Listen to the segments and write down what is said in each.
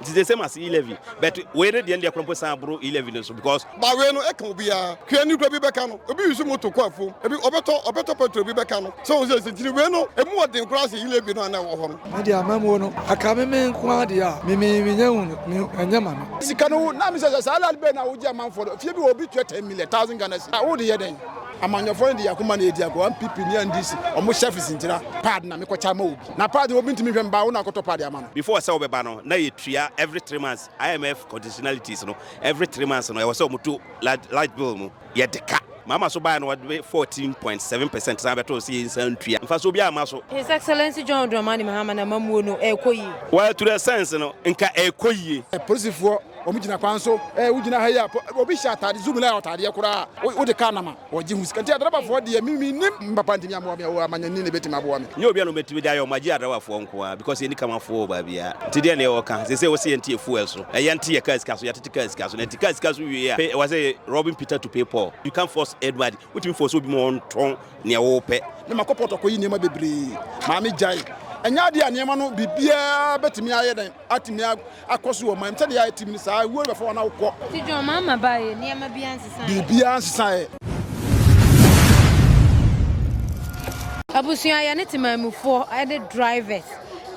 It is the same as e-levy but wei ne deɛ deɛ korɔ mpo san boro e-levy no so because. Ba wei no ɛka obiara hwɛ ni kura bi bɛka no obi use moto kɔ afuom ebi ɔbɛtɔ ɔbɛtɔ petrol bi bɛka no sɛ wɔn sɛ ɛsɛ tiri wei no emu ɔden koraa sɛ e-levy no a na ɛwɔ hɔ no. Me deɛ amamuo no ɛka me me nko ara deɛ a me me me nya hu no me ɛnyɛ ma me. Sika no na mi sɛ sɛ saa lad bɛyi na wogye amanfoɔ no fie bi wɔ obi tua ten million thousand Ghana cedi a wode yɛ dɛn? Amanyɔfoɔ no de yɛn akoma na ɛdi agorɔ, ampp ne ndc ɔmo sheriffs ntira pad na mekɔkyɛ ama obi. Na paa deɛ obi ntumi nhwɛ mbaa wo na akɔtɔ paa de ama no. Before sɛ wɔbɛba no na yɛtua every three months IMF conditionalities no every three months no ɛwɔ sɛ wɔn to large large bill mu yɛdeka. Mama so baeɛ no wɔde fourteen point seven percent san bɛtoo sɛ yɛnsan ntua. Mfasoɔ biara mma so. His Excellency John Dramani Mahama n'amammuo no ɛrekɔ yie. Well to the sense no nka ɛrekɔ yie. Polisifoɔ wɔn gyina kwan so. Ɛɛ wo gyina ha yi a obi hyɛ ataade zuu me line ataadeɛ koraa a wo de car nam a. Wɔgye ho sika nti adrabafoɔ deɛ me mennim papa ntimi ammoa me oo amanyɔni na ɛbɛtimi aboa me. Nyɛ obia na ɔbɛtumi de ayɛ ɔmo agye adrabafoɔ nkoaa because yɛnni kamafoɔ wɔ baabia nti deɛ na yɛwɔ ka seisei wɔse yɛnte yɛ fuel so na yɛnte yɛ car sika so yɛatete car sika so na nti car sika so wieɛ a pay ɛwɔ sɛ robbing Peter to pay Paul you can't force anybody wontumi force obi ma ɔntɔn neɛ wopɛ. Me makɔ port akɔyi nneɛma bebree maame gyae ɛnyɛ adeɛ a nneɛma no biribiaa bɛtumi ayɛ dɛn. atumi akɔ so wɔ ɔman mu sɛdeɛ yɛayɛ tim no saa wuo bɛfa wɔn a wokɔ. Ti John maa ma baayɛ nneɛma biara nsesaeɛ. Biribiara nsesaeɛ. Abusua yɛne temanmufoɔ ne drivers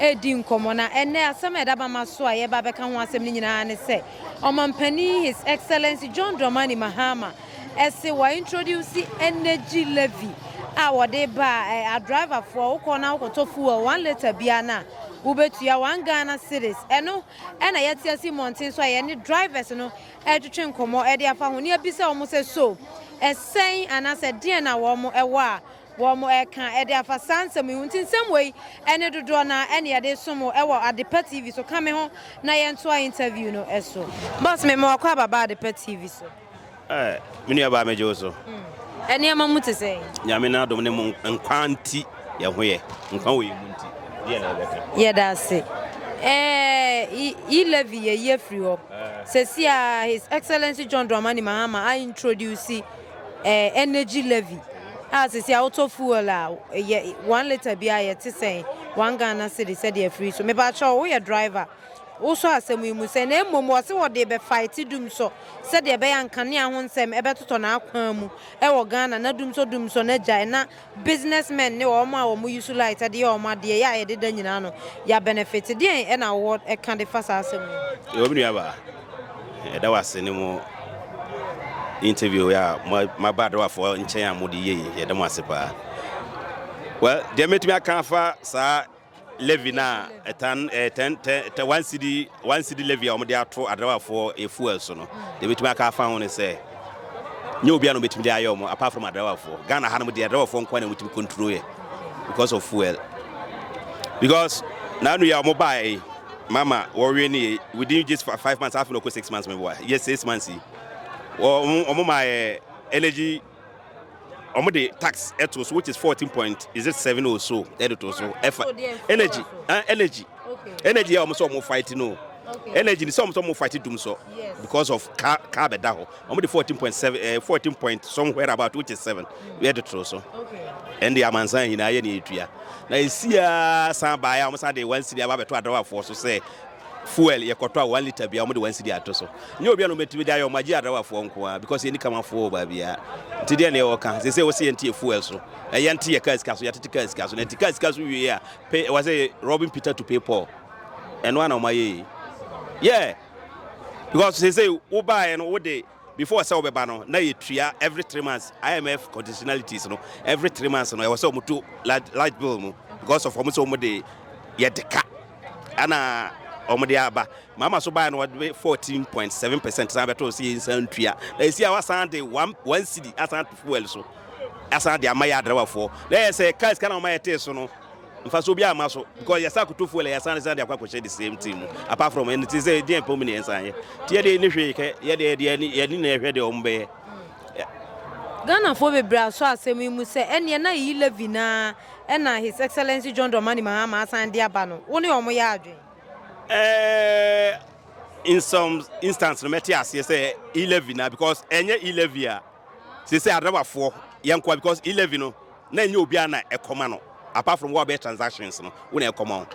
redi nkɔmmɔ na ɛnɛ asɛm a ɛda bama so a yɛba bɛka ho asɛm no nyinaa ne sɛ ɔmampanin His Excellency John Dramani Mahama Ɛse wɔ introduce energy levy a wɔde ba a, a driver foɔ wokɔ na wokɔtɔ fuel one litre biara no a, wobɛtua one Ghana cedis. Ɛno ɛna yɛte ase mmɔnten so a yɛne drivers no ɛretwetwe nkɔmmɔ ɛde afa ho ne abisa wɔn sɛ so ɛsɛn anaasɛ deɛn na wɔn ɛwɔ a wɔn ɛreka ɛde afa saa nsɛm yi ho. Nti nsɛm wei ɛne dodoɔ no ara ɛna yɛde som wo ɛwɔ Adepa TV so. Ka me ho na yɛntoa interview no ɛso. Boss me ma wakɔ aba ba Adepa TV so. Ɛɛ, me nua baa megye wo so. Nneɛma mu te sɛn? Nyame n'adom ne mo nkwa nti yɛn ho yɛ, nkwa wɔ yɛn mu nti deɛ na yɛbɛka. Yɛda ase. Ɛɛ, E. Levy yɛ yi afiri hɔ. Sɛsi a His Excellency John Dramani Mahama a introduce ɛɛ energy levy a sɛsi a wotɔ fuel a yɛ one litre biara yɛte sɛn? One Ghana cedi sɛdeɛ afiri so. Mepa kyɛw woyɛ driver? wosɔ asɛm yi mu sɛ, na mmom ɔse wɔde rebɛfaete Dumsɔ sɛdeɛ ɛbɛyɛ a nkanea ho nsɛm bɛtotɔ n'akwan mu wɔ Ghana na Dumsɔ Dumsɔ no agyae na business men ne wɔn a wɔyi so light de yɛ wɔn adeɛ yɛ a yɛde da nyinaa no yɛ abɛnɛfete. Deɛn na wowɔ ka de fa saa asɛm yi ho? Yɛwɔ me nuabaa. Yɛda wo ase ne mo interview a maba adowafoɔ nkyɛn a mode yei. Yɛda mo ase paa. Well, deɛ mɛtumi aka afa saa Levy no a ɛtan ɛɛ tɛn tɛ tɛ one cedi one cedi levy a wɔde ato adrawafoɔ efuel so no deɛ ebetumi aka afa ho ne sɛ nyɛ obi a na obetumi de ayɛ wɔn apart from adrawafoɔ Ghana ha nom deɛ adrawafoɔ nko na wɔtumi control yɛ because of fuel because n'anu yɛ a wɔn baa yi mama wɔwe ne yɛ within just five months afei na ɔkɔ six months mɛboa yɛ six months yi wɔn wɔn maa yɛ energy. wɔde tax to so which is fourteen point is it seven or so ɛde to so ɛfa energy ah energy energy a wɔn sɛ wɔn fight no energy ni sɛ wɔn sɛ wɔn fight dum so because of car car bɛ da hɔ wɔn de fourteen point seven ɛɛ eh, fourteen point somewhere about which is seven ɛde to so ɛn de amansan nyinaa yɛ ne etua na esia san baa yɛ a wɔn san de one city aba bɛto adawafoɔ so sɛ. Fuel yɛ kɔtɔ a one litre biara wɔn de one cedi ato so. Nyɛ obi a na wɔn atumi de ayɛ wɔn agye Adrawafoɔ nko ara because yɛn ni Kamafoɔ wɔ baabi ara. Nti deɛ na yɛ wɔ ka. Sɛ sɛ wɔsi yɛn te yɛ fuel so. Ɛyɛ nte yɛ car sika so yɛ atete car sika so. Na nti car sika so wie a pay wɔ sɛ robbing Peter to pay Paul. Ɛno ara na wɔn ayɛ yɛ. Yeah because sɛ sɛ wo baa yɛ no wo de. before sɛ wɔbɛba no na yɛtua every three months IMF conditionalities no every three months no ɛwɔ sɛ wɔn to large bill mu because of wɔn sɛ wɔn de yɛde ka ɛna wɔn de aba mama so baa no wɔde fourteen point seven percent san bɛtɔ sɛ yɛn nsa ntua na esi a wasan de one one cedi asan to fuel so asan de ama yɛ adrawafoɔ na yɛ sɛ cars kan na wɔn ayɛ tee so no. mfaso biara mma so because yɛsa akoto fuel yɛsan ne san de akɔ akɔhyɛ the same thing mu apart from ɛno ti sɛ ɛdi ɛpɛ mu ne yɛn san yɛ ti yɛ de ne hwee kɛ yɛ de yɛ de yɛ ne na ɛhwɛ de wɔn bɛyɛ. Ghanafoɔ bebree asɔ asɛm yi mu sɛ ɛneɛ na ɛyi levy no ara ɛna His Excellency John Dramani Mahama asan de aba no, wo ne wɔn yɛ adwene? Eh, in some instance no mɛte aseɛ sɛ e-levy na because ɛnyɛ e-levy a sɛ sɛ adawafoɔ yɛnkoa because e-levy no na ɛnyɛ obiara na ɛkɔma no apart from wo a wobɛyɛ transactions no wo na ɛkɔma wo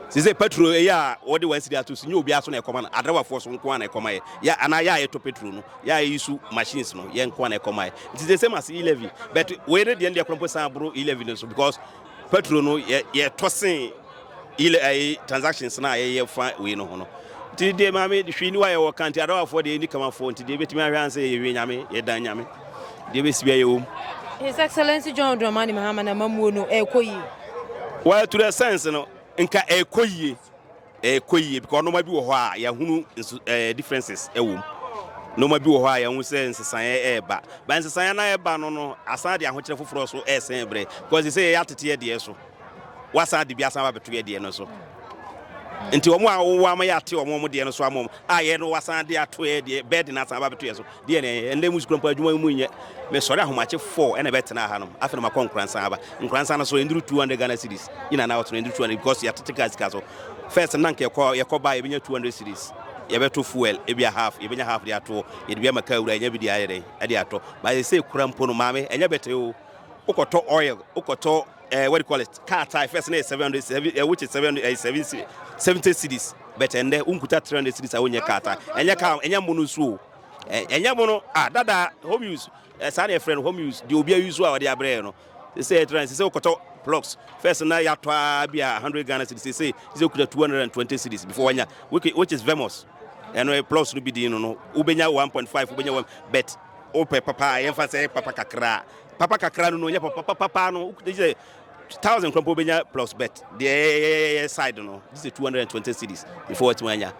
sese petrol ɛyɛ a wɔde wɔn asiri ato so nyɛ obiara so na ɛkɔma no adrawafoɔ so nko a na ɛkɔma yɛ yɛ anaa yɛ a yɛtɔ petrol no yɛ a yɛyi so machines no yɛ nko a na ɛkɔma yɛ nti sɛ same as e-levy but wei ne deɛ ne deɛ korɔmpo san aboro e-levy no so because petrol no yɛ yɛtɔ sen Yile ayi transactions no a yɛyɛ fa wei no ho no. Nti deɛ maame hwee ni wa yɛwɔ ka nti adawafoɔ deɛ ni kamafoɔ nti deɛ ebetumi ahwɛ ansa yɛwie nyame yɛdan nyame deɛ ebesi bia yɛwɔ mu. His Excellency John Dramani Mahama n'amammuo no ɛrekɔ yie. Well to the sense no nka ɛrekɔ yie ɛrekɔ yie because nneɛma bi wɔ hɔ a yɛahunu nso ɛɛ differences ɛwɔ mu nneɛma bi wɔ hɔ a yɛahu sɛ nsesaeɛ ɛreba ba nsesaeɛ no a ɛreba no no asan de ahokyerɛ foforɔ so ɛresɛn brɛ because sɛ yɛyɛ ateteɛ deɛ so. wɔasan de bi asan aba abɛto yɛ deɛ no so. Nti wɔn a wɔwɔ ama yɛate wɔn wɔn deɛ no so ama wɔn a yɛ no wɔasan de ato yɛ deɛ bɛɛde no asan aba abɛto yɛ so deɛ no ɛnna mu sukuu mpo adwuma mu nyɛ mesɔre ahomakye four ɛna ɛbɛtena ha nom afei na makɔ nkoransan aba nkoransan no so ɛnduru two hundred Ghana cedis yina na wɔtena ɛnduru two hundred because yɛatete kaa sika so first na nka yɛkɔ yɛkɔ baa yɛbɛnya two hundred cedis yɛbɛto fuel ebi a half yɛbɛnya half de ato yɛde bi ama kaa wura yɛnya bi de ayɛ dɛn ɛde atɔ baayɛ sɛ kura mpo no maame ɛnyɛ bɛtɛ o wokɔtɔ oil wokɔtɔ uh, what do you call it car tire first na yɛ seven hundred seven uh, which is seven uh, seven seventy cities but ɛnɛ wonkuta three hundred cities a wonyɛ car tire ɛnyɛ car ɛnyɛ mo no nso o ɛnyɛ mo no ah dada home use saa na yɛfrɛ no home use deɛ obi ayi so a wɔde abrɛ no sɛ yɛtra no sɛ sɛ wokɔtɔ blocks first na yɛatɔ a bi a hundred ghana cities sɛ sɛ wokuta two hundred and twenty cities before wanya which is vemos ɛno blocks no bi din no no wobɛnya one point five wobɛnya one bet wopɛ papa a yɛmfa sɛ papa kakra Papa kakra no no ɔnyɛ papa papapaa no wogye sɛ thousand kora mpo wobɛnya plus bet deɛ ɛyɛ side no gye sɛ 220 cities before watumi anya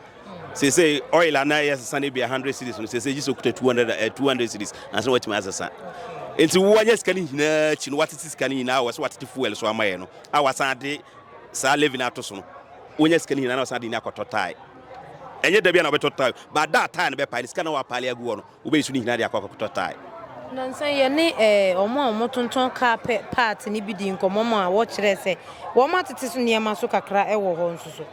seesei oil ana ɛyɛ sesa no bia 100 cities no seesei gye sɛ okuta 200 eh, 200 cities ansa na watumi asesa nti woanyɛ sika no nyinaa akyi no watete sika no nyinaa wɔ sɛ watete fuel so amayɛ no a wasan ade saa levy no ato so no wonya sika no nyinaa na wasan de ni akɔtɔ tae ɛnyɛ da bia na wobɛtɔ tae but da tae no bɛpae no sika na wapaale agu hɔ no Wobɛyi so no nyinaa de akɔ akɔtɔ tae. Nnansa yi, yɛne wɔn a wɔtontɔn kaa pɛ paati no bi dii nkɔmmɔ maa wɔkyerɛɛ sɛ wɔatete so nneɛma so kakra wɔ hɔ nso so.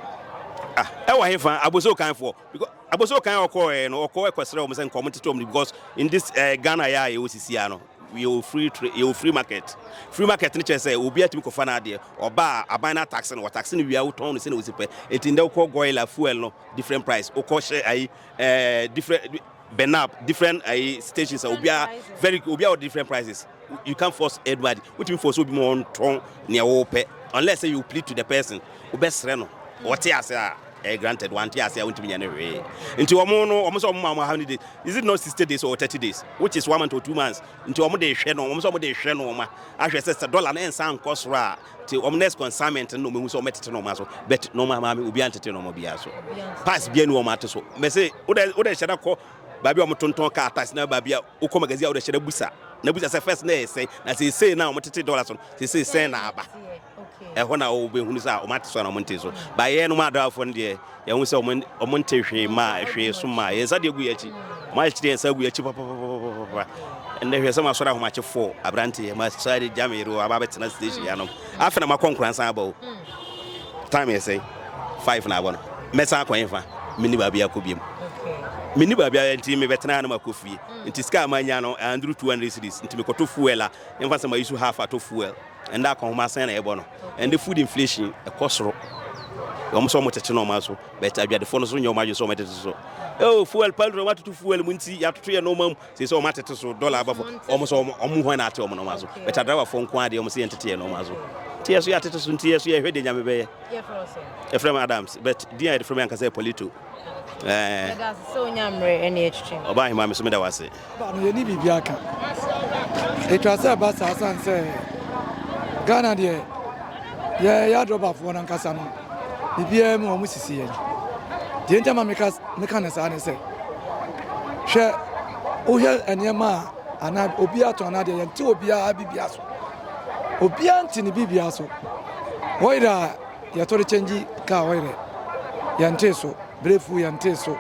Ah, ɛwɔ hefa? Abossey Okanfoɔ. Because Abossey Okan a ɔkɔɔɛ no, ɔkɔɔ kɔsrɛ wɔn sɛ nka wɔn tete wɔn no because in this eh, Ghana yɛ a yɛwɔ sisiaa no, yɛwɔ free tra- yɛwɔ free market. Free market no kyerɛ sɛ obi atumi kɔfa n'adeɛ, ɔba a aban no atakse no, wɔtakse no wie a wotɔn no sɛnea wosi pɛ. Enti ndɛ wokɔ goil a fuel no different price, wokɔ hyɛ ayi eh, different burn up different uh, stations a obiara very obiara wɔ different prices you can't force everybody wotumi force obi ma ɔntɔn nea wɔpɛ unless say you plead to the person wobɛsrɛ no wɔte ase a eh, granted wante ase a wontumi nyɛ no hwee nti wɔn no wɔn sɛ wɔn ma wɔn how many days is it not sixty days or thirty days which is one month or two months nti wɔn de hwɛ no wɔn sɛ wɔn de hwɛ no wɔn ahwɛ sɛ sɛ dollar no nsa nkɔ soro a Nti wɔn next consignment no na wɔn ehu sɛ wɔn tete nneɛma so but nneɛma maame obi antete nneɛma biara so pass bia ni wɔn ate so mɛsɛ wodɛ wodɛ hyɛ da kɔ baabi a wɔn tontɔn kaa tax na baabi a wokɔ magazine a wodɛ hyɛ da busa na busa sɛ first na yɛ sɛn na sɛ esei na wɔn tete dollars no sɛ esei sɛn na aba ɛhɔ na wɔn bɛ hunu sɛ wɔn ate so na wɔn nte so baayɛ no mu adawafo no deɛ. Yɛahu sɛ wɔn wɔntee hwee maa ɛhwee so maa yɛn nsa deɛ gu yɛn akyi. Wɔn akyekyere yɛn nsa agu yɛn akyi papapapapapa. Ɛnnɛ hwɛ sɛ m'asɔre ahomakye fɔɔ aberanteɛ ma saa de gya me yere o aba abɛtena station yɛ anom. Afei na makɔ nkora nsan aba o. Time yɛ sɛn? Five na abɔ no. Mɛsan akɔ hefa? Menni baabi akɔ biam. Menni baabi a nti mebɛtena ha na makɔ fie. Nti sika a manya no, ɛanduru two hundred cedis. Nti mekɔtɔ fuel a, yɛmfa sɛ mayi so half atɔ fuel. Ɛnda akɔnhoma asɛn na yɛbɔ no. Ɛnde food inflation ɛkɔ soro. Wɔn sɛ wɔn tete nɔɔma nso, but adwadifo no nso nyɛ wɔn adwene sɛ wɔn tete so. Oh, fuel paltry, wɔn atoto fuel mu nti, yɛatoto yɛn nɔɔma mu. Sɛ sɛ wɔn atete so, dollar aba fam. Wɔn sɛ wɔn wɔn hɔn na ate wɔn nɔɔma so. But adrawafoɔ nko ara deɛ wɔn sɛ yɛn tete yɛn nɔɔma so. Nti yɛ so yɛatete so, nti yɛ so yɛhwɛ deɛ nyame bɛyɛ. Yɛfrɛ me Adams, but din a yɛde frɛ me ankasa yɛ Polito. Ɛɛ. Ɔbaa ahema me so meda wase. Aba no yɛnni biribi aka. Ɛtwa sɛ ɛba saa sane sɛ Ghana deɛ yɛyɛ adrɔbafoɔ no ankasa no biribiara mu wɔn sisi yɛn. Deɛ nti ma meka meka ne saa ne sɛ hwɛ wohwɛ nneɛma a anaa obi atɔn anaa deɛ yɛnte obiara bibia so obiara nte ne bibia so wɔyera yɛtɔ de kyɛngye kaa ɔyerɛ yɛntee so brake fuel yɛntee so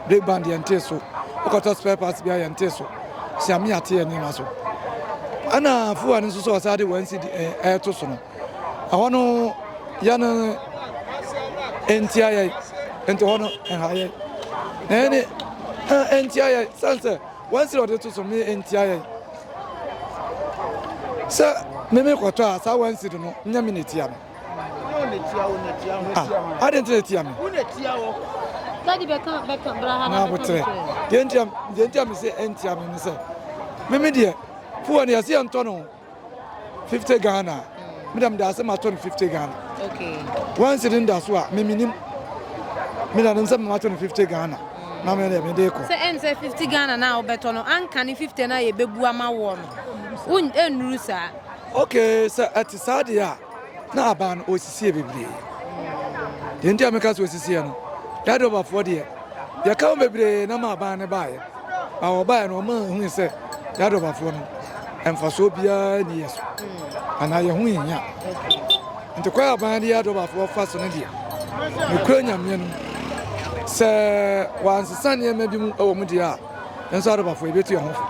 brake band yɛntee so wokɔtɔ spare parts bia yɛntee so siame ate yɛ nneɛma so ɛna fuwa no nso sɛ ɔsaa de wɔn si ɛɛto so no ɛhɔ no yɛ no ntia yɛ nti hɔ no ɛha yɛ na ɛne ntia yɛ sɛn sɛ wɔn si ɔde to so me ntia yɛ sɛ meme kɔtɔ a saa wɔn si do no nyɛ me na etia me adɛn nti na ɛtia me na aboterɛ deɛ ntia me sɛ ɛntia me ne sɛ meme deɛ fuwa no yɛse yɛntɔ no 50 ghana medam da sɛ matɔ no 50 ghana wansi de nda so a memenim medanom sɛ mematɔ no 50 ghana na me deɛ mede kɔ sɛ ɛne sɛ 50 ghana no a wobɛtɔ no anka ne 50 no a yɛbɛbu ama woɔ no ɛnnuru saa Ok sɛ ɛte saa deɛ a na aban no ɔsisie bebree deɛ nti a meka sɛ ɔsisieɛ no yɛade ɔbafoɔ deɛ yɛka ho bebree na ma aban no baeɛ na wɔbaeɛ no ɔma hui sɛ yɛade ɔbafoɔ no mfasoɔ biara ni yɛ so anaa yɛ ho nhia nti kwan a aban de yɛade ɔbafoɔ fa so no deɛ mekura nyameɛ no sɛ wɔansesa nneɛma bi mu wɔ mu deɛ a Nanso adebafo, yebetu yɛn ho fo.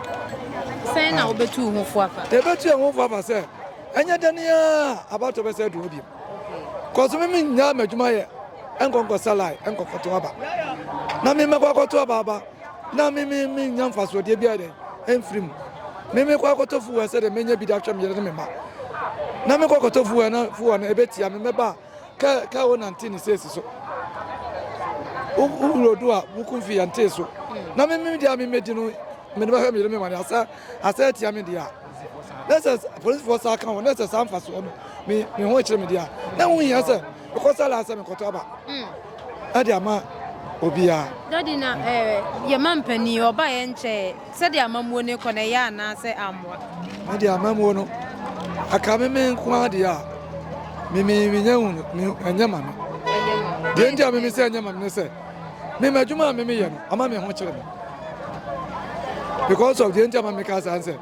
Sɛn na wobetu wo ho fo afa? Yebetu yɛn ho fo afa sɛ ɛnyɛ dɛn ara a abatoɔ bɛsɛ adu hɔ bio. Kɔ so mimi nnyaa m'adwuma yɛ nkɔ nkɔ salae nkɔ kɔto aba na mimi mɛkɔ akɔto aba aba na mimi mi nya mfasoɔdeɛ biara dɛn ɛmfiri mu mimi kɔ akɔtɔ fuwɛ sɛdeɛ mɛnya bi de ahwɛ me yere ne me mma na mekɔ akɔtɔ fuwɛ na fuwɛ no ɛbɛtia me mɛba a Ka ka wo nante ne sesi so. Wo wuro do a wo kun fi yɛnte so. Na me me dia me me di no me ne bɛhwɛ me yere me ma ne asa asa atia me dia. Na sɛ polisifoɔ saa ka ho na sɛ saa mfasoɔ no me me ho kyerɛ me dia. Na wo hia sɛ mekɔsa la sɛ mekɔtɔ aba. Ɛde ama obiara. Daddy na eh yɛ ma mpanin ɔba yɛ nkyɛɛ. Sɛdeɛ amammuo no rekɔ no, ɛyɛɛ anaasɛ ammoa? Me deɛ amammuo no, ɛka me me nko ara deɛ a, me me menya hu no, me ɛnyɛ ma me. Deɛ nti a me me sɛ ɛnyɛ ma me ne sɛ, me ma adwuma a me me yɛ no, ama me ho kyerɛ me. Because of deɛ nti a ma me ka saa ne sɛ,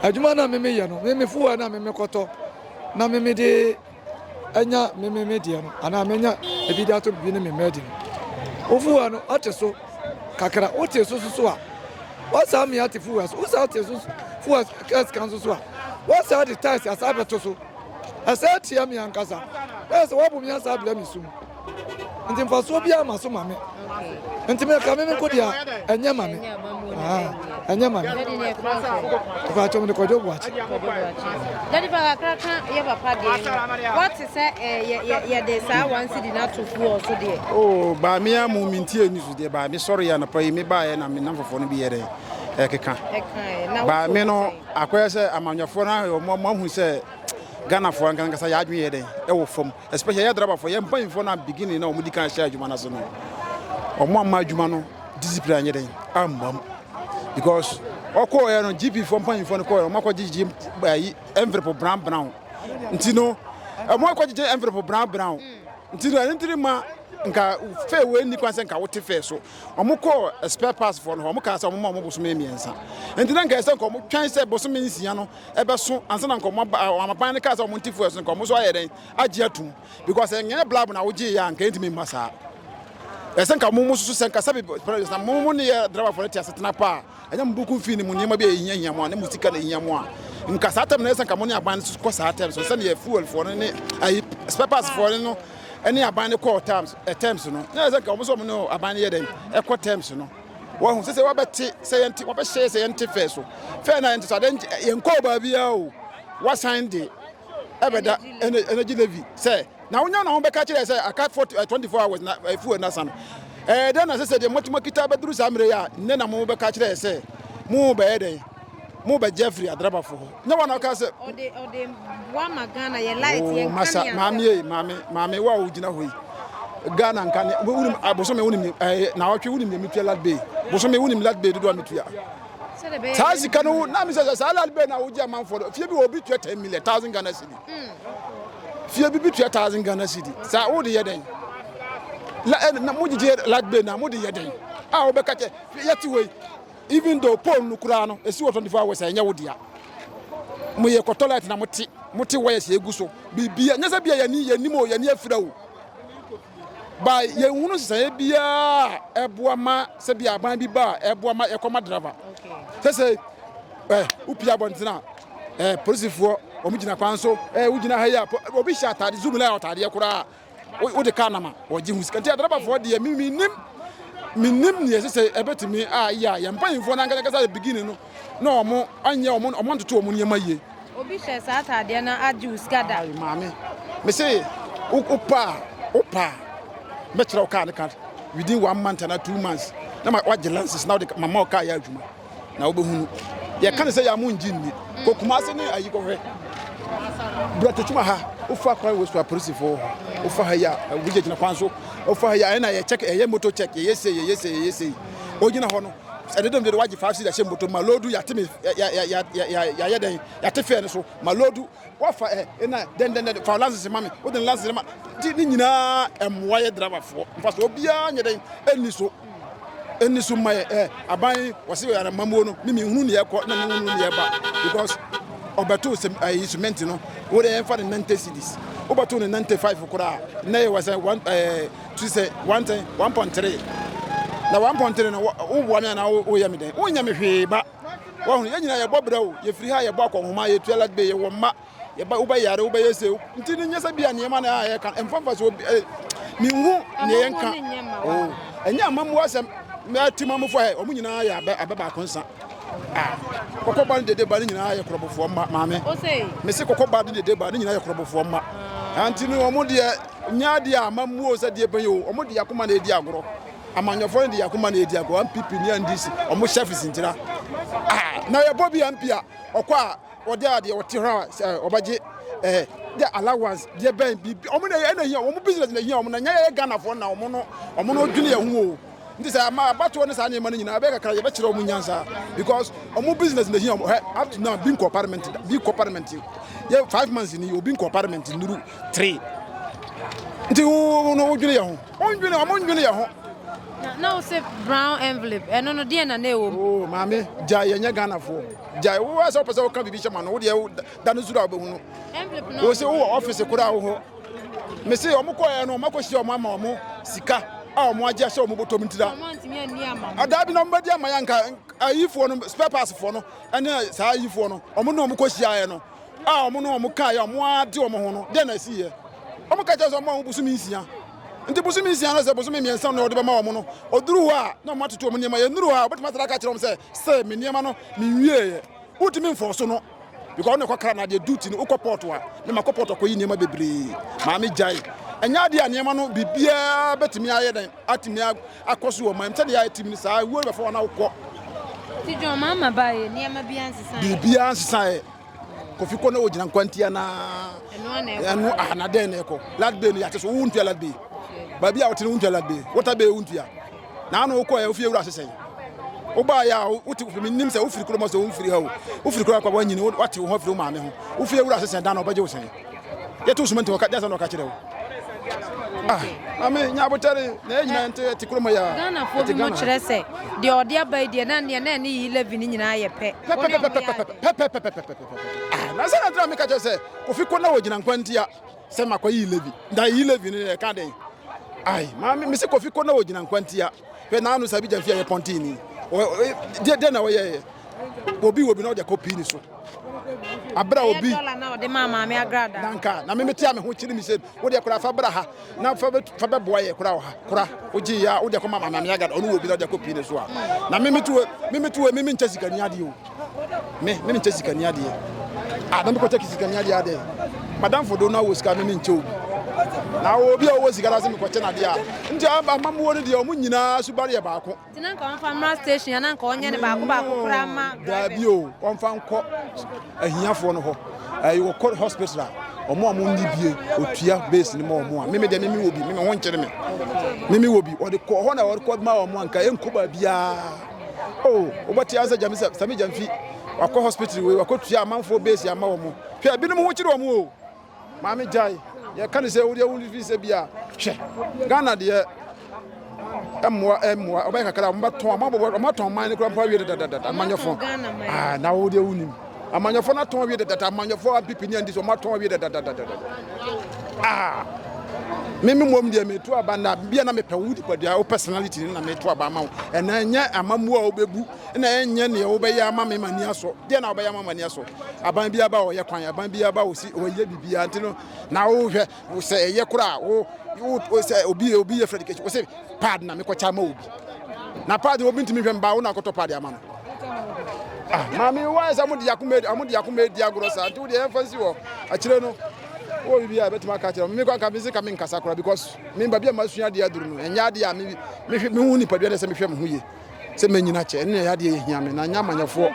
adwuma no a me me yɛ no, me me fuel na me me kɔtɔ, na me me de. anya me me me deɛ no anaa menya ebi de ato bibi ne me mma adi no wofuwa no ɔte so kakra wote so soso a wɔsaa mmea ate fuwa so wosaa te so fuwa kɛse kan soso a wɔsaa de taasi asaa bɛto so ɛsɛ tia mi ankasa ɛsɛ wɔbɔ mi asaa bila mi so mu. Nti mfasoɔ biara ma so ma me. Nti me ka me me nko deɛ ɛnyɛ ma me. Ɛnyɛ ma me. Ɛfɛ atwom de kɔdwo bu akyi. Dadi fa kakra ka yɛ papa deɛ no. Wɔte sɛ yɛde saa wansi di n'ato fuo so deɛ. Oo baa me a mo minti ani so deɛ baa me sɔre yɛ anapa yi me baeɛ na me nam fofoɔ no bi yɛ dɛ ɛkeka. Baa me no akɔyɛ sɛ amanyɔfoɔ no ahwɛ wɔn ahu sɛ Ghanafoɔ ankasa yɛ adwene yɛ dɛ ɛwɔ fam. Especially yɛ driver fo, yɛ mpanyinfoɔ na beginning na wɔn di kan hyɛ adwuma n'ase no, wɔn amma adwuma no discipline anyɛ dɛn amma mu because ɔkɔɔ yɛ no GP fo mpanyinfoɔ no kɔɔ yɛ no wɔn akɔ gyegye ɛyi envelope brown brown nti no wɔn akɔ gyegye envelope brown brown nti no ɛno ntiri ma nka fɛ wei ni kwan sɛ nka wote fɛ so wɔn kɔɔ spare parts fo no wɔn kaa sɛ wɔn ma wɔn bosome mmiɛnsa nti na nka ɛsɛ nka wɔn twɛn sɛ bosome nsia no ɛbɛso ansa na nka ɔma ɔma ban no kaa sɛ ɔmo nte fuel so nka ɔmo nso ayɛ dɛn agye atum because ɛnyɛ blab na wogye yɛ a nka ɛntumi mma saa ɛsɛ nka mo mo soso sɛ nka sɛbi president na mo mo ne yɛ driverfoɔ no te ase tena paa ɛnyɛ mo buku mfii ne mu nneɛma bi a ɛhia hia mo a ne mo sika na ɛhia mo a nka saa tɛm na ɛsɛ nka mo ne aban no kɔ saa tɛm so sɛdeɛ fuelfoɔ no ne ayi spare parts foɔ no no ɛne aban no kɔɔ terms terms no na ɛsɛ nka wɔn nso wɔn ne aban no yɛ dɛn ɛkɔ terms no Wahu sɛ sɛ wabɛte sɛ yɛn te wabɛhyɛ yɛ sɛ yɛn te fɛɛ so fɛɛ na yɛn te so adan yɛn kɔɔ baabi a o wasan de ɛbɛda ɛna ɛna gye levi sɛ na wonya na wɔbɛka kyerɛ sɛ aka for eh, twenty four hours na efu eh, ɛna san ɛɛ dɛn na sɛ sɛ deɛ mɔtuma kita abɛduru saa mmerɛ yi a nnɛ na mo bɛka kyerɛ sɛ mo bɛyɛ dɛn mo bɛ gya firi adrabafo hɔ nyɛ wɔn na ɔka sɛ ɔde ɔde boa ma ghana yɛ light oh, yɛ nka ne maame yɛ maame maame wo a wogyina hɔ yi ghana nka ne wonim abosome ah, wonim eh, na ɔtwe wonim yɛ metua lat bay bosome wonim lat bay dodoɔ a metua saa sika no na mesɛ sɛ saa lat bay na wogye amanfoɔ no fie bi wɔ obi tua 10 million thousand ghana cedi hmm. fie bi bi tua thousand ghana cedi saa wode yɛ dɛn mogyegye lat bay na mode yɛ dɛn a wobɛka kyɛ yɛte hɔ yi even though pole no koraa no esi wɔ 24 hours ɛnyɛ wo dea mo yɛ kɔtɔ light na mo te mo te wires yɛ egu so biribi nyɛ sɛ bia yɛn ni yɛn nim o yɛn ni afira o ba yɛn hunu sisan biara ɛboa ma sɛ bia aban bi ba ɛboa ma yɛkɔ ma driver sɛ sɛ ɛ wopia abɔnten a ɛ polisifoɔ wɔn gyina kwan so ɛ wogyina ha yi a obi hyɛ ataade zoom line atadeɛ koraa wode kaa nam a wɔgye ho sika nti adrabafoɔ deɛ menim menim neɛ ɛsɛ sɛ ɛbɛtumi a yɛ a yɛn mpanyimfoɔ no ankasa yɛ beginning no na wɔn anyɛ wɔn wɔn antoto wɔn nneɛma yie. obi hyɛ saa ataadeɛ no agye wo sika da. ayi maame mese wopa a wopa a mɛkyerɛ wo kaa ne ka within one month anaa two months na wagye lances na wode mama wo kaa yɛ adwuma. na wobɛhunu. Yɛka ne sɛ yɛ a mo ngye nni. Kɔ Kumase ne ayi kɔhwɛ. Brɛtotuma ha, wofa kwan wɔ so apolisifoɔ hɔ. Wofa ha yi a, wogye gyina kwan so. Wofa ha yi a, ɛna yɛ check, ɛyɛ moto check, yɛyɛ sei, yɛyɛ sei, yɛyɛ sei. Ogyina hɔ no, ɛdedem deɛ wagye five seed ahyɛ moto ma lodu yɛate me yɛayɛ dɛn yɛate fɛɛ no so ma lodu wafa ɛ ɛna dɛn dɛn dɛn fa lances ma me wode lances ma nti ne nyinaa ɛmmoa yɛ driverfoɔ mfa so obiara nyɛ dɛn ɛnni so Ɛnni so mma yɛ ɛ aban yi wɔsi yɛ anamamuo no mi mi nhunu ni ɛkɔ na mi nhunu ni ɛba because ɔbɛto sɛ ɛyi cement no wo de ɛnfa ne nante cedis wobɛto ne nante five koraa na yɛ wɔ sɛ one ɛɛ tu sɛ one ten one point three na one point three no woboa mi anaa woyɛ mi dɛn wonyɛ mi hwee ba wɔn yɛn nyinaa yɛbɔ brɛ o yɛfiri ha yɛbɔ akɔnhoma yɛtua ladbe yɛwɔ mma yɛba wobɛyare wobɛyɛ se nti no nyɛ sɛ bia nneɛma na ayɛ ka mfa mfa so obi eh, menhu ne yɛ nka oh ɛnyɛ amamu asɛm mɛti ma mufo ɛ ɔmo nyinaa yɛ abɛ abɛ baako nsa ah kɔkɔ ba ne dede ba ne nyinaa yɛ korɔbofoɔ mma maame mese kɔkɔ ba ne dede ba ne nyinaa yɛ korɔbofoɔ mma anti no ɔmo deɛ nyɛ adeɛ a amamu o sɛ deɛ bɛyɛ o ɔmo deɛ akoma na edi agorɔ amanyɔfoɔ no deɛ akoma na edi agorɔ mpp ne ndc ɔmo hyɛ fisintira ah na yɛbɔ bi mp a ɔkɔ a Wɔde a deɛ wɔte hɔ a sɛ wɔbɛgye eh, deɛ allowance deɛ bɛn biribi wɔn na ɛna hia wɔn business na hia wɔn na nyɛ yɛ Ghanafoɔ na wɔn no wɔn no dwene yɛn ho o nti sɛ ama abatoɔ ne saa nneɛma no nyinaa ɛbɛyɛ kakra yɛbɛkyerɛ wɔn nyansa because wɔn business na hia wɔn hɛ up to now bi nkɔ parliament bi nkɔ parliament yɛ five months ni obi nkɔ parliament nuru three nti wo no wodwene yɛn ho wɔn dwene wɔn dwene yɛn ho. na wo se brown envelope ɛno no deɛ na na ɛwɔ mu. Oh, maame gya yɛnyɛ Ghanafoɔ. Gyae wo ara sɛ wopɛ sɛ woka biribi hyɛ ma no, wo deɛ da no zuru a wobɛhu no. Wo se wowɔ ɔfise koraa wo hɔ. Me se wɔn kɔɛ no wɔn akɔhyia wɔn ama wɔn sika a wɔn agye ahyɛ wɔn bɔtɔm ntira. Adaa bi na wɔn bɛdi ama yɛ nka ayifoɔ no spare parts foɔ no ɛne saa ayifoɔ no wɔn ne wɔn kɔhyiaeɛ no. a wɔn ne wɔn kaeɛ a wɔn ara de wɔn ho no, dɛn na ɛsiiɛ? Wɔka kyerɛ sɛ wɔmma wɔn bosome nsia. Nti bosome nsia no sɛ bosome mmiɛnsa na wɔde bɛma wɔn no, ɔduru hɔ a na wɔn atoto wɔn nneɛma. Yɛnnuru hɔ a, wɔbɛtumi asane aka akyerɛ wɔn sɛ, sɛ me nneɛma no menwieeɛ. Wontumi mfɔɔ so no. Because ɔno ɛkɔkra no adeɛ duty no wokɔ port a ne makɔ port akɔyi nneɛma bebree maa me gyae. Ɛnyɛ adeɛ a nneɛma no biribiara bɛtumi ayɛ dɛn atumi akɔ so wɔ ɔman mu sɛdeɛ yɛayɛ tim no saa wuo no bɛfa wɔn na wokɔ. Ti John maa ma baayɛ nneɛma bi ansesaeɛ. Biribiara ansesaeɛ. Kofi kɔ na wɔgyina nkwanti anaa. Ɛno ana ɛkɔ. Ɛno aha na dɛn na ɛkɔ. Lat bay no yɛate so wontua lat bay. Baabi a wote no wontua lat bay. Water bay wontua. Na ano wokɔ yɛ wofie wura ase sɛn. Wobaa yɛ a wote kofi mi nim sɛ wofiri kuroma sɛ womfiri ha o. Wofiri kuroma kwa wanyini wate wo ho afiri wo maame ho. Wofie wura ase sɛn dan na ɔbɛgye wo sɛn. yɛto suma nti wɔka dasa na wɔka kyerɛ wo ah ame nya abotare na yɛ nyinaa nte te kurom ya Ghana fo bi mo kyerɛ sɛ deɛ ɔde aba yi deɛ na neɛ na ɛne yi levy ne nyinaa yɛ pɛ na sɛ na tena meka kyerɛ sɛ kofi kɔ na wɔgyina nkwa ntia sɛ makɔ yi levy da yi levy ne ɛka den ai ma me se kofi kɔ na wɔgyina nkwa ntia hwɛ na ano sabi gya fi a yɛ pɔntini deɛ na wɔyɛyɛ obi wɔ bi na ɔde kɔ pii ne so Abere a obi. Ɛyɛ dɔla na ɔde maa maame agrada. Na nka na me mete a me ho kyiri me sɛ wo deɛ kora fa bra ha na fa fa bɛboa yɛ kora wɔ ha kora wogye yɛ a wo deɛ kɔma maame maame agrada ɔno wɔ bi na ɔde akɔ pii ne so a na me mete wɔ me mete wɔ me me nkyɛ sikani adeɛ o me me nkyɛ sikani adeɛ a na me kɔkyɛ sikani adeɛ adɛ madamfo do na wɔ sika me me nkyɛ obi na wɔ obi a wɔwɔ sika na sɛ me kɔkyɛ na adeɛ a nti amammuo no deɛ ɔmo nyinaa subare yɛ baako Nti na nka ɔmfa mmra station a na nka ɔnyɛ ne baako baako koraa ma drivers. Daabi o, ɔmfa nkɔ ahiafoɔ no hɔ. Ɛyi wɔkɔ hospital a, ɔmo a ɔmo nni bie, otua base no ma ɔmo a. Mimi deɛ mimi wɔ bi, mimi ho nkyere me. Mimi wɔ bi, ɔde kɔ hɔ na ɔde kɔ ma ɔmo a nka ɛnkɔ baabiara. O, wobɛte asɛ gyame sɛ sami gyamfi wakɔ hospital wei wakɔ tua amanfoɔ base ama ɔmo. Hwɛ, binom ho kyere ɔmo o. Maame gyae yɛ ka ne sɛ wodeɛ wo fi sɛ bi a hwɛ Ghana deɛ ɛmmoa ɛmmoa ɔbɛyɛ kakra ɔmo bɛtɔn ɔmo abɔ ɔmo atɔn man ne kura mpo awie dadadada amanyɔfo aa na wodeɛ wo nim amanyɔfo no atɔn awie dadada amanyɔfo apipi ne andi so ɔmo atɔn awie dadadada aa mimi mmom deɛ metu aba na bia na mepɛ wo nipadua wo personality na metu aba ama wo ɛna ɛnyɛ amammoa a wobɛbu na ɛnyɛ nea wobɛyɛ ama me ma ani asɔ deɛ na wobɛyɛ ama ma ani asɔ aban bi aba ɔyɛ kwan aban bi aba ɔsi ɔyɛ biribiara nti no na wohwɛ sɛ ɛyɛ koraa wo wo sɛ obi obi yɛ fɛ education wo sɛ pad na mekɔkyɛ ama obi na pad obi ntumi hwɛ mba wo na akɔtɔ pad ama no ah maame wa sɛ amode akoma amode akoma edi agorɔ saa nti wo deɛ yɛmfa nsi hɔ akyire no wɔ biribi a bɛtumi aka kyerɛ me kɔ anka mese ka menkasa koraa because memba bi a masua adeɛ aduru no ɛnyɛ adeɛ a mehu nipadua ne sɛ mehwɛ me ho yie sɛ mɛnyini akyɛ ɛno na ɛyɛ adeɛ yɛhia me na nyɛ amanyɛfoɔ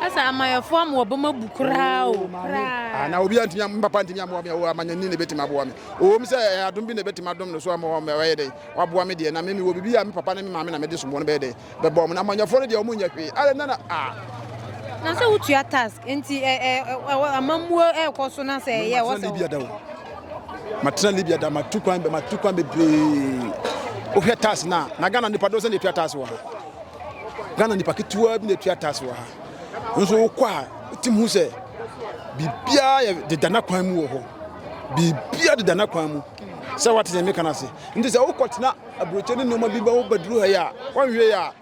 ɛsɛ amanyɛfoɔ ama wɔbɛma bu koraa o koraa na obi antumi me papa ntumi amoa me o amanyɛni na ɛbɛtumi aboa me ɔwɔ mu sɛ ɛyɛ adom bi na ɛbɛtumi adom no so ama wɔn ɛyɛ dɛn waboa me deɛ na me mewɔ biribi a me papa ne me maame na mede soboɔ no bɛyɛ dɛn bɛbɔ mu na amanyɛfoɔ no deɛ wɔn nyɛ hwee ara na na a na sɛ wotua task nti amammuo ɛrekɔ so na sɛ ɛyɛ wɔ sɛ matena libya da matu kwan bɛ matu kwan bebree wohwɛ tax no a na ghana nipa doɔ sɛ na ɛtua tax wɔ ha ghana nipa ketewa bi na ɛtua tax wɔ ha nso wokɔ a wotim hu sɛ biribiaa yɛ deda na kwan mu wɔ hɔ biribiaa deda na kwan mu sɛ woate sɛ meka no ase nti sɛ wokɔtena aburokyɛ ne nnoɔma bi bɛ wobɛduru ha yi a wɔnhwɛ yi a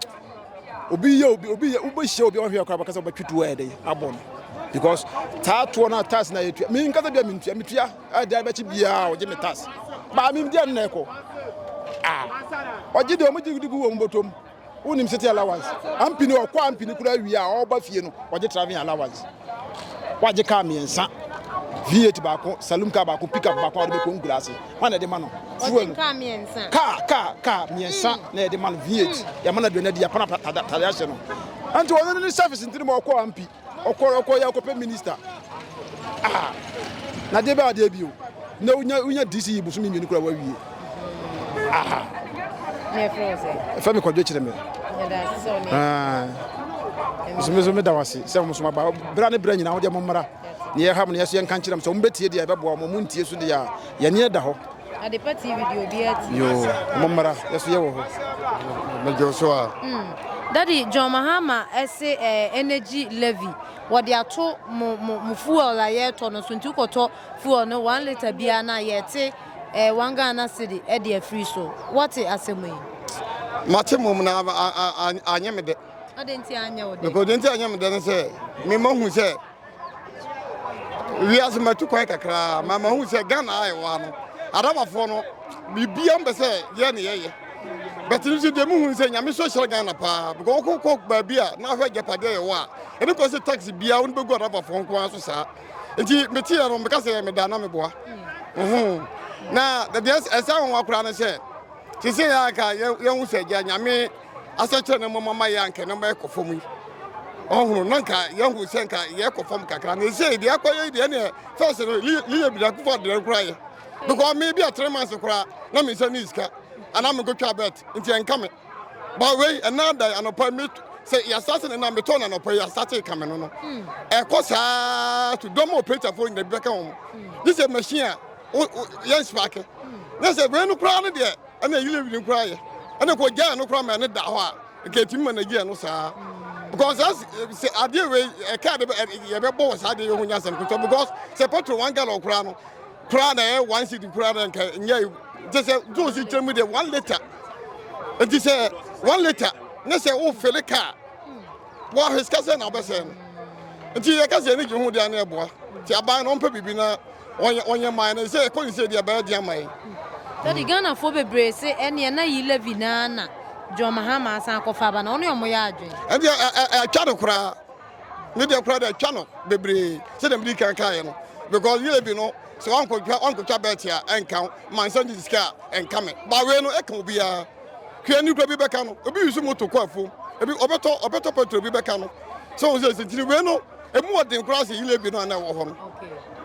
obi yɛ obi obi yɛ wobɛhyia obi a wahwɛ akora bɛkasa wobɛtwe toɔ ɛdɛ abɔ no because taa toɔ no tas na yɛtua me nkasa bia mentua metua ɛdan bɛkye biaa ɔgye me tas baa memdeɛ nnɛ ɛkɔ ɔgye deɛ ɔmogye de gu wɔ mbɔtom wonim city allowance ampini ɔkɔ ampini kora wie a ɔba fie no ɔgye traveling allowance wagye kaa mmiɛnsa v8 baako salum kaa baako pickup baako a wɔde bɛkɔ nkura ase wọn na ɛde ma no fuel kaa mmiɛnsa kaa kaa kaa mmiɛnsa hmm. na ɛde ma no v8 hmm. yɛma no aduane adi yɛpana tade ahyɛ no nti wɔn no ne service ntini ma ɔkɔ ampi ɔkɔ ɔkɔ yɛ akɔpɛ minister ah na deɛ bɛ adeɛ bio na wonya wonya dc yi bosomi mmienu kura wawie. aha ɛfɛ me kwadwo kyerɛ me mesome so meda wo ase sɛ mo so maba berɛ ne berɛ nyina wodeɛ mo mmara ne yɛha mo ne yɛso yɛnka nkyerɛ m sɛ wombɛtie deɛ ɛbɛboa mo montie so deɛ a yɛneɛ da hɔ adepa tv deɛ obi ati yo mo mmara yɛso yɛwɔ hɔ mɛdwo so a hmm. dadi john mahama ɛse eh, energy levy wɔde ato mo mo mo fuel a yɛretɔ no so nti wokɔtɔ fuel no one litre biara no a yɛte Eh one Ghana cedi ɛde afiri so wɔte asɛm yi. Mate mom na anyɛ me dɛ. Ɔde nti anyɛ wo dɛ. Because ɔde nti anyɛ me dɛ ne sɛ me ma hu sɛ wiase matu kwan kakra ma ma hu sɛ Ghana a ɛwɔ ha no Adabafoɔ no biribiara mbɛ sɛ yɛ ne yɛyɛ. Bɛte no nso deɛ mu hu sɛ nyame so hyerɛ Ghana paa because wokɔ kɔ baabi a na ahwɛ agyapadeɛ yɛwɔ a ɛne kɔ sɛ taxi biara wo ne bɛgu Adabafoɔ nko ara so saa. nti meteɛ no meka sɛ meda na meboa na deɛ ɛsɛ ho wa koraa no sɛ sese yɛ anka yɛhu sɛ gya nyame asɛkyerɛ no mmɔma ma yɛ anka no ma ɛkɔ fam yi ɔhunu na nka yɛhu sɛ nka yɛkɔ fam kakra na ɛsɛ deɛ akɔyɛ deɛ neɛ fɛs no liyɛ bidakufo adeɛ no koraa yɛ because me bi a three months koraa na me nsa ne sika anaa mekɔtwa bet nti ɛnka me Ba wei ɛna da anɔpa mi sɛ yasase ne na metɔ na anɔpa yasase kame no no hmm. ɛkɔ saa to dɔm operator fo nyina bi bɛka wɔn hmm. gye sɛ machine a yɛn spark hmm. ne sɛ wei no koraa no deɛ ɛna ɛyiri wiri koraa yɛ ɛna kɔ gyaa no koraa ma ɛne da hɔ a nka ɛtumi ma nagyia no saa because sɛ adeɛ wei ɛka de yɛbɛbɔ wɔ saa adeɛ yɛ ho nya asɛm because sɛ petrol one gallon koraa no Koraa na ɛyɛ one cedi koraa na nka nyɛ gye sɛ juice kyerɛ mu deɛ one litre nti sɛ one litre ne sɛ wofele kaa wɔahwɛ sika sɛ na wobɛsɛe no nti yɛka sɛ ɛne gye ho deɛ ne ɛboa nti aban no ɔmpɛ biribi na ɔnyɛ man no sɛ ɛkɔ ne sɛ deɛ ɛbɛyɛ deɛ man sɛde ghanafoɔ bebree se ɛneɛ na yi levy naa na john mahama asan akɔfa aba na ɔne ɔmo yɛ adwene ɛdeɛ atwa no koraa ne deɛ koraa deɛ atwa no bebree sɛdeɛ mede kan kaeɛ no because yɛ bi no sɛ wankɔtwa wankɔtwa bɛɛte a ɛnka wo ma nsa gye sika a ɛnka me ba wei no ɛka obiara hwɛ ne kura bi bɛka no obi yusu moto kɔ afuom ebi ɔbɛtɔ ɔbɛtɔ petrol bi bɛka no sɛ wɔn sɛ sentiri wei no emu ɔden koraa sɛ yile bi no a na ɛwɔ hɔ no.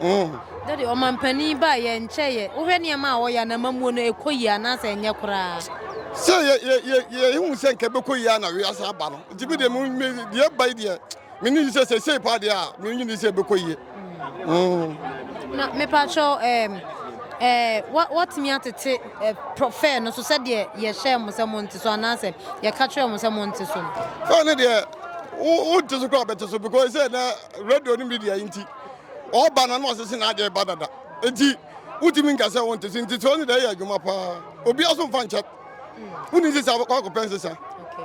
Mm. dade ɔmampanin ba yɛ nkyɛ yɛ wohwɛ nneɛma a wɔyɛ na mamuo no ɛkɔ yie anaasɛ ɛnyɛ koraa. sɛ yɛ yɛ yɛ yɛ ehu sɛ nka ɛbɛkɔ yie a na wiase aba no. Nti me deɛ me me deɛ ɛba yi deɛ me ne sɛ sɛ sɛ paa deɛ a me ne sɛ ɛbɛkɔ yie. Mm. Na mepatwɛ ɛɛm ɛɛ wɔtumi atete ɛɛ fɛɛ no so sɛdeɛ yɛhyɛ mo sɛ mo nte so anaasɛ yɛka kyerɛ mo sɛ mo nte so no. Fɛɛ no deɛ wo wo nte so koraa bɛte so because sɛ na radio ne media yi nti ɔba na na ɔsese na adeɛ ba dada nti wotumi nka sɛ wo nte so nti sɛ ɔne deɛ ɛyɛ adwuma paa obi aso mfa nkyɛ. woni nsesa wakɔpɛ nsesa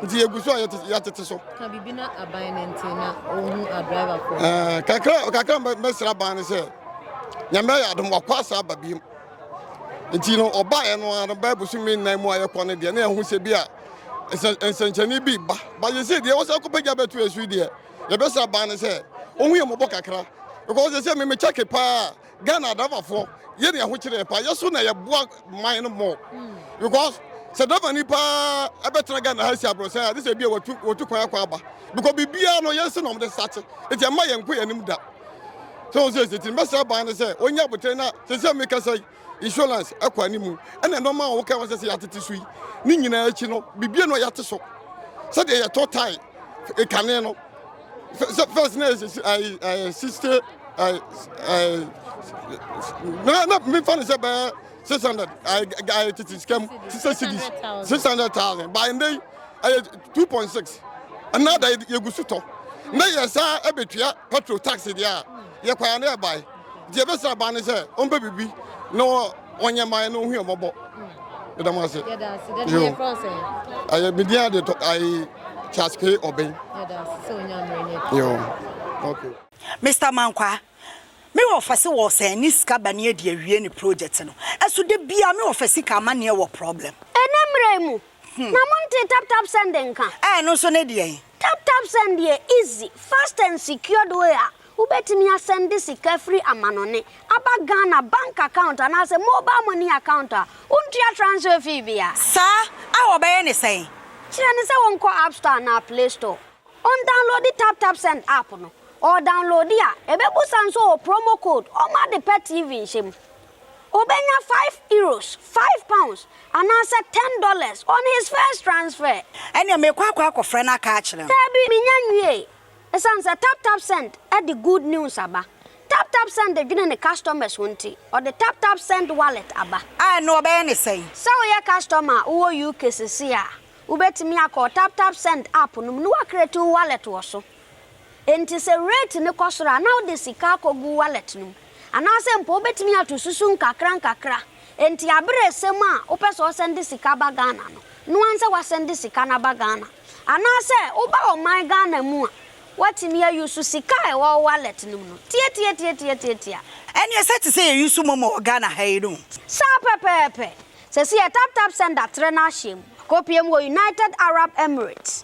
nti yɛgu so a yɛatete so kakra mɛsra ban no sɛ nyame ayɛ adom wakɔ asa aba biom nti no ɔbaeɛ no ara no bɛɛ bosome nnan mu a yɛkɔ no deɛ na yɛho sɛ bi a nsɛnkyɛnne bi ba bayɛ sɛ deɛ wɔsɛ kɔpɛgya bɛto ɛso deɛ yɛbɛsra ban no sɛ ɔhu yɛ mmɔbɔ kakra because sɛ memekyɛke paa Ghana adavafoɔ yɛ ne ahokyere yɛ paa yɛ so na yɛboa man no mɔ because sɛ dava ni paa ɛbɛtena Ghana ha si aborɔsɛn a ne sɛ bia wɔtu wɔtu kwan akɔ aba because biribiara no yɛn se na wɔn de sate nti ɛma yɛn nkɔ yɛn anim da sɛ wɔn sɛ ɛsɛ ti mbɛsɛ ban no sɛ wɔnyɛ abotire na sɛ sɛ mi kasa yi insurance ɛkɔ anim ɛna nneɛma a wɔka wɔn sɛ sɛ yɛatete so yi ne nyinaa akyi no biribiara no yɛate so sɛdeɛ yɛtɔ tae kane no. first na ɛyɛ sixty ɛɛ ɛɛ na na mi fa ne sɛ bɛɛ six hundred ɛɛ ɛɛ titi sika mu six cities six hundred thousand by ndé ɛyɛ two point six ɛnna da yɛ gu so tɔ na yɛ saa ɛbɛtua petrol tax deɛ a yɛ kwan na yɛ ban. Deɛ ɛbɛsra baa ne sɛ ɔmpɛ biribi na ɔnyɛ mmaeɛ na ɔhu mmɔbɔ. Yɛda mo ase. Ɛyɛ me din ade tɔ ayi Charles K. Ɔbɛn. Okay. Mister Mankwa, me wɔfa se wɔsɛn ne sika ba ne adi awie ne project no. Ɛso da biara me wɔfa sika ama neɛ wɔ problem. Ɛnɛ mmra yi mu, Na montee tap tap send nka? Ɛɛ ɛno nso ne deɛn? Tap tap send yɛ easy, fast and secured way a wobɛtumi asɛnde sika firi amanɔne aba Ghana bank account anaasɛ mobile money account a wontua transfer fee biara. Saa a wɔbɛyɛ ne sɛn? Kyerɛ no sɛ wɔnkɔ app store anaa play store, ɔndownloadi tap tap send app no, ɔredownloadi a ɛbɛbusa nso ɔwɔ promo code, ɔmma ade pa TV nhyɛ mu. Obenya five euros, five pounds, anaasɛ ten dollars on his first transfer. Ɛnneɛ meekɔ akɔ akɔfrɛ no aka akyerɛ no. Daabi, mennya nwiei. Esiane sɛ TapTapSend de good news aba, TapTapSend dwene ne customers ho nti, ɔde TapTapSend Wallet aba. A, ɛnneɛ wɔbɛyɛ no sɛn? Sɛ woyɛ customer a wowɔ UK seesei a, wubetumi akɔ TapTapSend app no mu na woacreate wo wallet wɔ so. Enti sɛ rate no kɔ soro a, na wode sika akɔgu wallet no mu. Anaasɛ mpo wobɛtumi ato susu nkakrankakra. Enti aberɛ resɛm a wopɛ sɛ ɔsɛnde sika ba Ghana no, noa nsɛ wasɛnde sika no aba Ghana. Anaasɛ woba ɔman Ghana mu a, woatumi a use sika a ɛwɔ wo wallet no mu no. Tiatiatiatiatiatia. Ɛneɛ sɛ te sɛ yɛ use momo wɔ Ghana ha yi no. Saa pɛpɛɛpɛ. Sɛsi yɛ taptapsend atrɛ no ahyɛm. Akɔpie mu wɔ United Arab Emirates.